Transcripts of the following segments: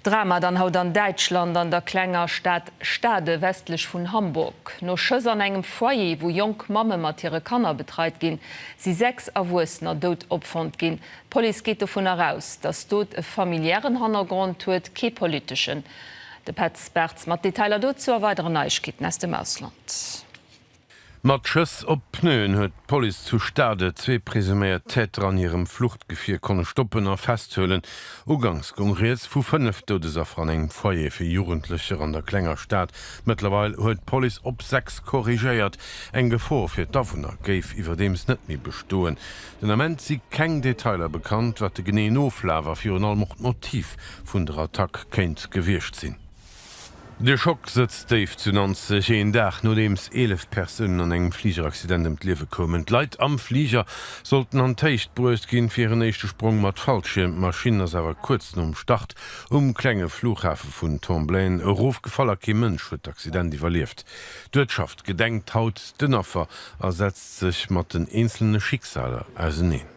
Drama dann haut an Däitschland an der klenger Stad Stade westlech vun Hamburg. No Schëss an engem Foyer, wou jonk Mamme mat hire Kanner betreit ginn, si sechs Erwuessener dout opfonnt ginn. D'Police geet dovun eraus, datt d'Dot e familiären Hannergrond huet, kee politeschen. De Petz Bartz mat Detailer dozou a weideren Neiegkeeten aus dem Ausland. Mat Schëss op d'Pneuen huet d'Police zu Stade zwee presuméiert Täter an hirem Fluchtgefier konne stoppen a festhuelen. Uganks goung Rieds vu fënnef Doudesaffer an engem Foyer fir Jugendlecher an der klenger Stad. Mëttlerweil huet d'Police op sechs korrigéiert. Eng Gefor fir d'Awunner géif iwwerdeems net méi bestoen. Den Ament si keng Detailer bekannt, wat de geneeën Oflaf a virun allem och d'Motiv vun der Attack kéint gewiescht sinn. De Schock sëtzt déif zu Nanzeg, een Dag nodeems 11 Persounen an engem Fligeraccident ëm d'Liewe koumen. D'Leit am Fliger sollten an d'Héicht bruecht ginn, fir hiren éischte Sprong mat Fallschierm. D'Maschinn ass awer kuerz nom Start um klenge Fluchhafe vun Tomblaine erofgefall a kee Mënsch huet d'Accident iwwerlieft. D'Uertschaft gedenkt haut den Affer a setzt sech mat den eenzelne Schicksaler auseneen.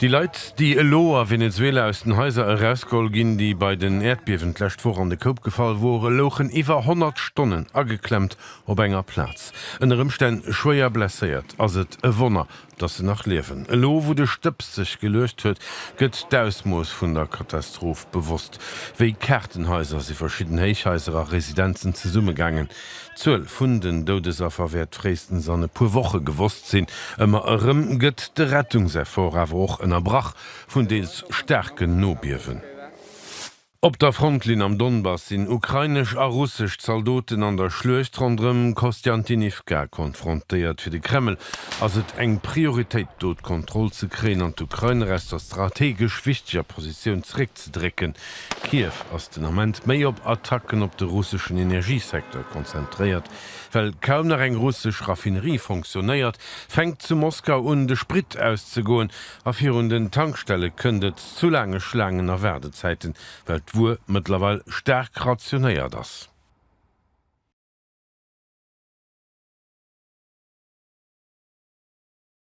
Déi Leit, déi elo a Venezuela aus den Haiser erausgeholl ginn, déi bei den Äerdbiewen d'lescht Woch an de Koup gefall wore, louchen iwwer 100 Stonnen ageklemmt op enger Plaz. Ënner Ëmstänn schwéier blesséiert, ass et e Wonner, datt se nach liewen. Elo wou de Stëbs sech geluecht huet, gëtt d'Ausmooss vun der Katastroph bewosst. Wéi Kaartenhaiser si verschidden Héichhaiser a Residenzen zesummegaangen. D'Zuel vun den Doudesaffer wäert fréistens an e puer Woche gewosst sinn. Ëmmer erëm gëtt de Rettungseffort awer och ënnerbrach vun deels staarken Nobiewen. Op der Frontlinn am Donbass sinn ukrainesch a russesch Zaldoten an der Schluecht ronderëm Kostjantinivka konfrontéiert. Fir de Kreml ass et eng Prioritéit, do d'Kontroll ze kréien an d'Ukrainer aus der strategesch wichteger Positioun zeréck ze drécken. Kiew ass den Ament méi op Attacken op de russeschen Energiesecteur konzentréiert. Well kaum nach eng russesch Raffinerie fonctionnéiert, fänkt zu Moskau un, de Sprit auszegoen a virun den Tankstelle kënnt et zu laange Schlaangen a Waardezäiten, well d'Wuer mëttlerweil staark rationéiert ass.